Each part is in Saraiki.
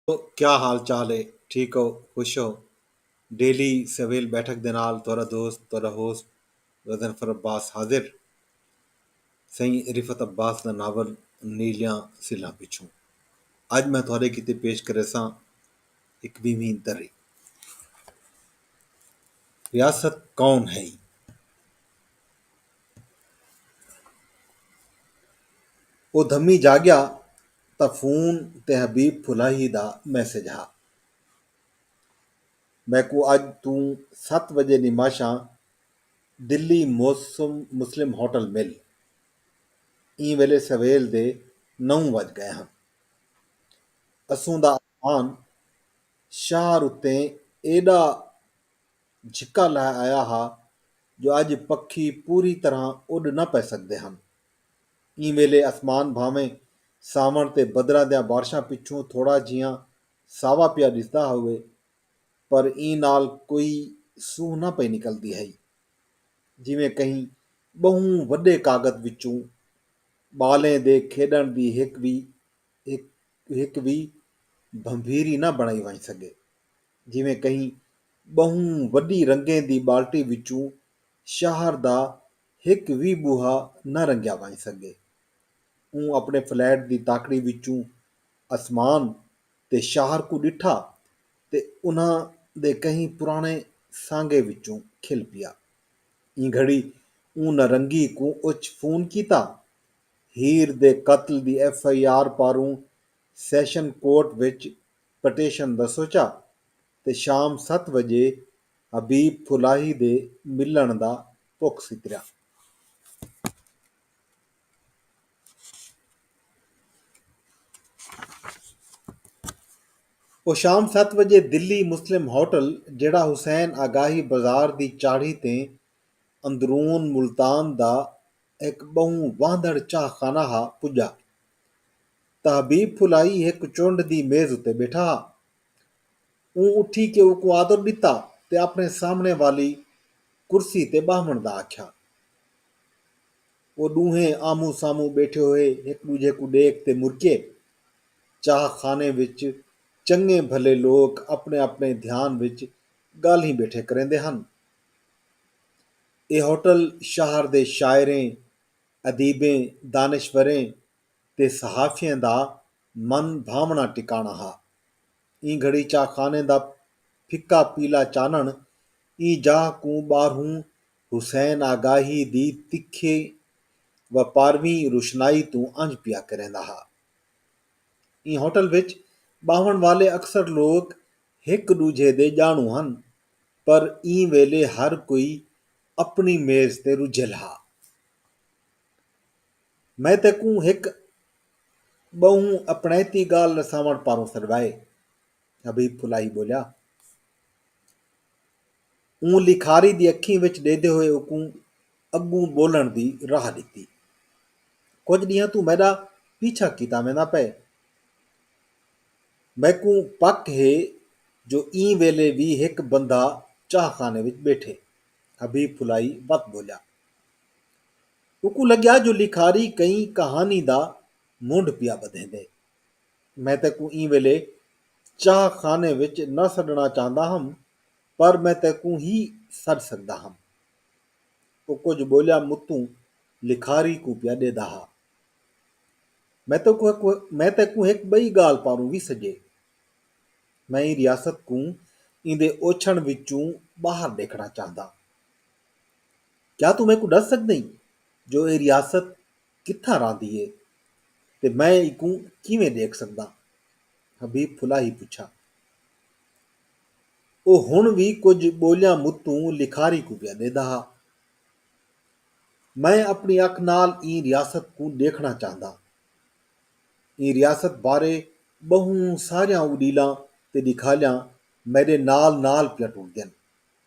کیا حال چال ہے ٹھیک ہو خوش ہو ڈیلی سویل بیٹھک دے نال تہاڈا دوست تہاڈا ہوسٹ غضنفر عباس حاضر سئیں رفعت عباس دا ناول نیلیاں سلھاں پچھوں اج میں تہاڈے کیتے پیش کریساں ہک ویہویں دری ریاست کون ہئی او دھمی جاگیا تاں فون تے حبیب پھلاہی دا میسج ہا۔ میکوں اڄ توں ست وڄے نماشاں دلی موسم مسلم ہوٹل مل۔ ایں ویلے سویل دے نو وڄ ڳئے ہن۔ اسوں دا امان شہر اتیں ایݙا جھکا لہہ آیا ہا جو اڄ پکھی پوری طرحاں اݙ نہ پئے سڳدے ہن۔ ایں ویلے اسمان بھانویں ساوݨ تے بدراں دیاں بارشاں پچھوں تھوڑا جھیاں ساوا پیا ݙسدا ہووے پر ایں نال کوئی سونہہ نہ پئی نکلدی ہئی جیویں کہیں ٻہوں وݙے کاغد وچوں ٻالیں دے کھیݙݨ دی ہک وی ہک وی بھنبھیری نہ بݨائی ونڄ سڳے جیویں کہیں ٻہوں وݙی رنگیں دی ٻالٹی وچوں شہر دا ہک وی ٻوہا نہ رنگیا ونڄ سڳے۔ اوں اپݨے فلیٹ دی تاکڑی وچوں اسمان تے شاہر کوں ݙٹھا تے انہاں دے کہیں پراݨے سانگے وچوں کھل پیا۔ ایں گھڑی اوں نہ رنگی کوں اچ فون کیتا۔ ہیر دے قتل دی ایف آئی آر پاروں سیشن کورٹ وچ پٹیشن دا سوچا۔ تے شام ست وجے حبیب پھلاہی دے ملنڑ دا پک ستریا۔ او شام ست وجے دلی مسلم ہوٹل جیڑھا حسین آگاہی بازار دی چاڑھی تے اندرون ملتان دا ہک بہوں واہندنڑ چاہ خانہ ہا پجا تاں حبیب پھلاہی ہک چنڈ دی میز اتے بیٹھا ہا۔ اوں اٹھی کے اوکوں آدر ݙتا تے اپݨے سامݨے والی کرسی تے ٻہوݨ دا آکھیا۔ او ݙوہیں آمہوں سامہوں ٻیٹھے ہوئے ہک ݙوجھے کوں ݙیکھ تے مرکئے۔ چاہ خانے وچ چنڳے بھلے لوک اپݨے اپݨے دھیان وچ ڳالھیں ٻیٹھے کریندے ہن۔ اے ہوٹل شہر دے شاعریں، ادیبیں، دانشوریں تے صحافیاں دا من بھاوݨا ٹکاݨا ہا۔ ایں گھڑی چاہ خانے دا پھکا پیلا چانݨ ایں جاہ کوں ٻاہروں حسین آگاہی دی تکھے و پارویں روشنائی توں انجھ پیا کریندا ہا۔ ایں ہوٹل وچ ٻاہوݨ والے اکثر لوک ہک ݙوجھے دے ڄاݨوں ہن پر ایں ویلے ہر کوئی اپݨی میز تے رجھل ہا۔ میں تیکوں ہک ٻہوں اپݨائتی ڳالھ رساوݨ پاروں سݙوائے، حبیب پھلاہی ٻولیا۔ اوں لکھاری دی اکھیں وچ ݙیہدے ہوئے اوکوں اڳوں ٻولݨ دی راہ ݙتی۔ کجھ ݙینہاں توں میݙا پیچھا کیتا ویندا پئے۔ میکوں پک ہے جو ایں ویلے وی ہک بندہ چاہ خانے وچ ٻیٹھے، حبیب پھلاہی وت ٻولیا۔ اوکوں لڳیا جو لکھاری کہیں کہانی دا منڈھ پیا ٻدھیندے۔ میں تیکوں ایں ویلے چاہ خانے وچ نہ سݙݨا چاہندا ہم پر میں تیکوں ہی سݙ سڳدا ہم۔ او کجھ ٻولیا متوں لکھاری کوں پیا ݙیہدا ہا۔ میں تیکوں ہک ٻئی ڳالھ پاروں وی سڄے۔ میں ایں ریاست کوں ایندے اوچھݨ وچوں ٻاہر ݙیکھݨا چاہنداں۔ کیا توں میکوں ݙس سڳدئیں جو ایہ ریاست کتھاں رہندی ہے تے میں ایکوں کیویں ݙیکھ سڳداں؟ حبیب پھلاہی پچھا۔ او ہݨ وی کجھ ٻولیاں متوں لکھاری کوں پیا ݙیہدا ہا۔ میں اپݨی اکھ نال ایں ریاست کوں ݙیکھݨا چاہنداں۔ ایں ریاست بارے ٻہوں ساریاں اݙیلاں تے ݙکھالیاں میݙے نال نال پیاں ٹردین۔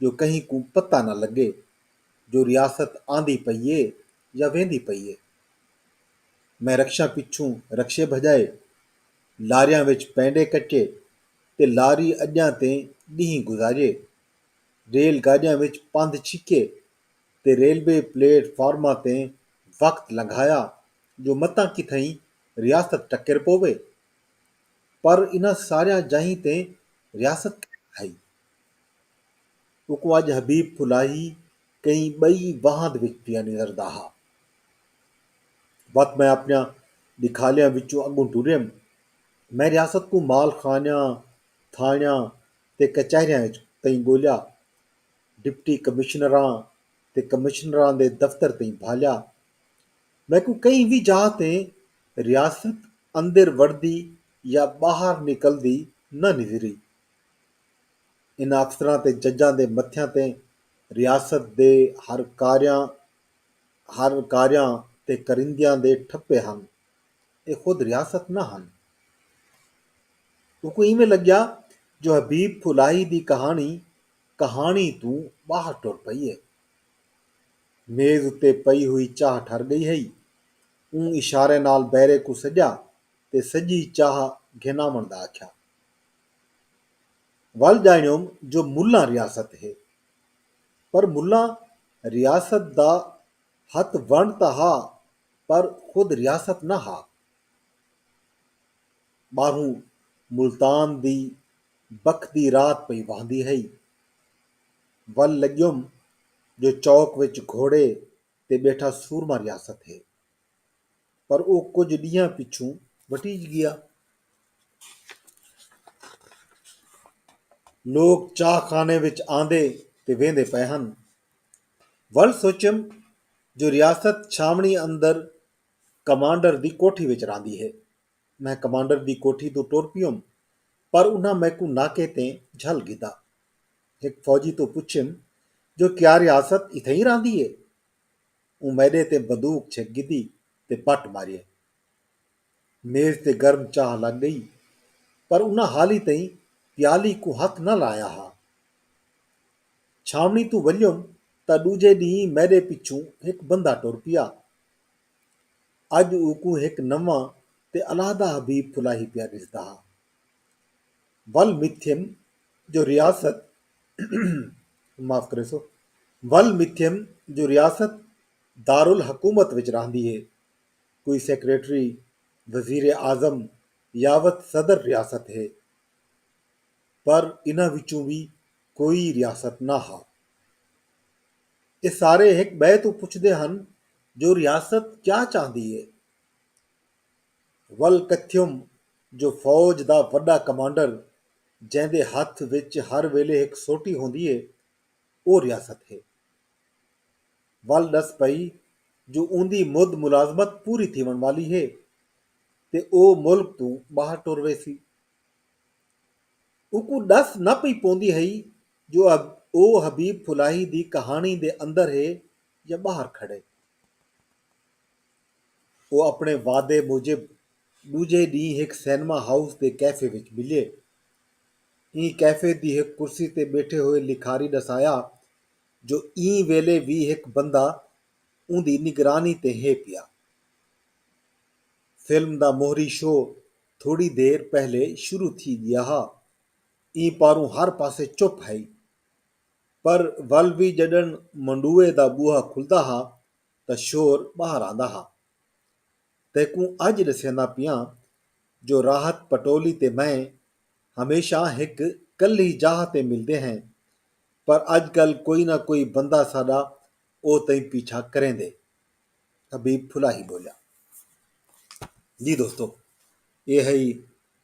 جو کہیں کوں پتہ نہ لڳے جو ریاست آندی پئی اے یا ویندی پئی اے۔ میں رکشاں پچھوں رکشے بھڄائے، لاریاں وچ پینڈے کٹے تے لاری اڄاں تیں ݙینہہ گزارئے۔ ریل گاݙیاں وچ پندھ چھکئے تے ریلوے پلیٹ فارماں تیں وقت لنگھایا جو متاں کتھائیں ریاست ٹکر پووے۔ پر انہاں ساریاں جاہیں تیں ریاست کائنی ہئی۔ اوکوں اڄ حبیب پھلاہی کہیں ٻئی واہند وچ پیا نظردا ہا۔ وت میں اپݨیاں ݙکھالیاں وچوں اڳوں ٹریم۔ میں ریاست کوں مال خانیاں، تھاݨیاں تے کچہریاں وچ تئیں ڳولیا۔ ڈپٹی کمشنراں تے کمشنراں دے دفتر تئیں بھالیا۔ میکوں کہیں وی جاہ تیں ریاست اندر وڑدی یا ٻاہر نکلدی نہ نظری۔ انہاں افسراں تے ججاں دے متھیاں تے ریاست دے ہر ہر کاریاں تے کریندیاں دے ٹھپے ہن۔ اے خود ریاست نہ ہن۔ اوکوں ایویں لڳیا جو حبیب پھلاہی دی کہاݨی کہاݨی توں ٻاہر ٹر پئی اے۔ میز اتے پئی ہوئی چاہ ٹھر ڳئی ہئی۔ اوں اشارے نال بیرے کوں سݙیا تے سڄی چاہ گھن آوݨ دا آکھیا۔ ول ڄاݨیوم جو ملاں ریاست ہے۔ پر ملاں ریاست دا ہتھ ونڑ تاں ہا پر خود ریاست نہ ہا۔ ٻاہروں ملتان دی بکھدی رات پئی وہندی ہئی۔ ول لڳیوم جو چوک وچ گھوڑے تے ٻیٹھا سورما ریاست ہے۔ پر او کجھ ݙینہاں پچھوں وٹیج ڳیا۔ لوک چاہ خانے وچ آندے تے ویندے پئے ہن۔ ول سوچیم جو ریاست چھاوݨی اندر کمانڈر دی کوٹھی وچ راہندی ہے۔ میں کمانڈر دی کوٹھی توں ٹر پیوم پر انہاں میکوں ناکے تے جھل گھدا۔ ہک فوجی توں پچھیم جو کیا ریاست اتھائیں راہندی ہے؟ اوں میݙے تے بدوک چھک گھدی تے پٹ ماریئے۔ میز تے گرم چاہ لڳ ڳئی پر انہاں حالی تئیں پیالی کوں ہتھ نہ لایا ہا۔ چھاوݨی توں ولیم تاں ݙوجھے ݙینہہ میݙے پچھوں ہک بندہ ٹر پیا۔ اڄ اوکوں ہک نواں تے علیحدہ حبیب پھلاہی پیا ݙسدا ہا۔ ول متھیم جو ریاست ول متھیم جو ریاست دارالحکومت وچ راہندی ہے۔ کوئی سیکرٹری، وزیر اعظم یاوت صدر ریاست ہے۔ پر انہاں وچوں وی کوئی ریاست نہ ہا۔ ایہ سارے ہک ٻئے توں پچھدے ہن جو ریاست کیا چاہندی ہے؟ ول کتھیوم جو فوج دا وݙا کمانڈر جیندے ہتھ وچ ہر ویلے ہک سوٹی ہوندی ہے او ریاست ہے۔ ول ݙس پئی جو اوندی مد ملازمت پوری تھیوݨ والی ہے تے او ملک توں ٻاہر ٹر ویسی۔ اوکوں ݙس نہ پئی پوندی ہئی جو او حبیب پھلاہی دی کہاݨی دے اندر ہے یا ٻاہر کھڑے۔ او اپݨے وعدے موجب ݙوجھے ݙینہہ ہک سینما ہاؤس دے کیفے وچ ملئے۔ ایں کیفے دی ہک کرسی تے ٻیٹھے ہوئے لکھاری ݙسایا جو ایں ویلے وی ہک بندہ اوندی نگرانی تے ہے پیا۔ فلم دا موہری شو تھوڑی دیر پہلے شروع تھی ڳیا ہا۔ ایں پاروں ہر پاسے چپ ہئی۔ پر ول وی ڄݙݨ منڈوئے دا ٻوہا کھلدا ہا تاں شور ٻاہر آندا ہا۔ تیکوں اڄ ݙسیندا پیاں جو راحت پٹولی تے میں ہمیشاں ہک کلھی جاہ تے ملدے ہیں پر اڄ کل کوئی نہ کوئی بندہ ساݙا او تئیں پیچھا کریندے، حبیب پھلاہی ٻولیا۔ جی دوستو! اے ہئی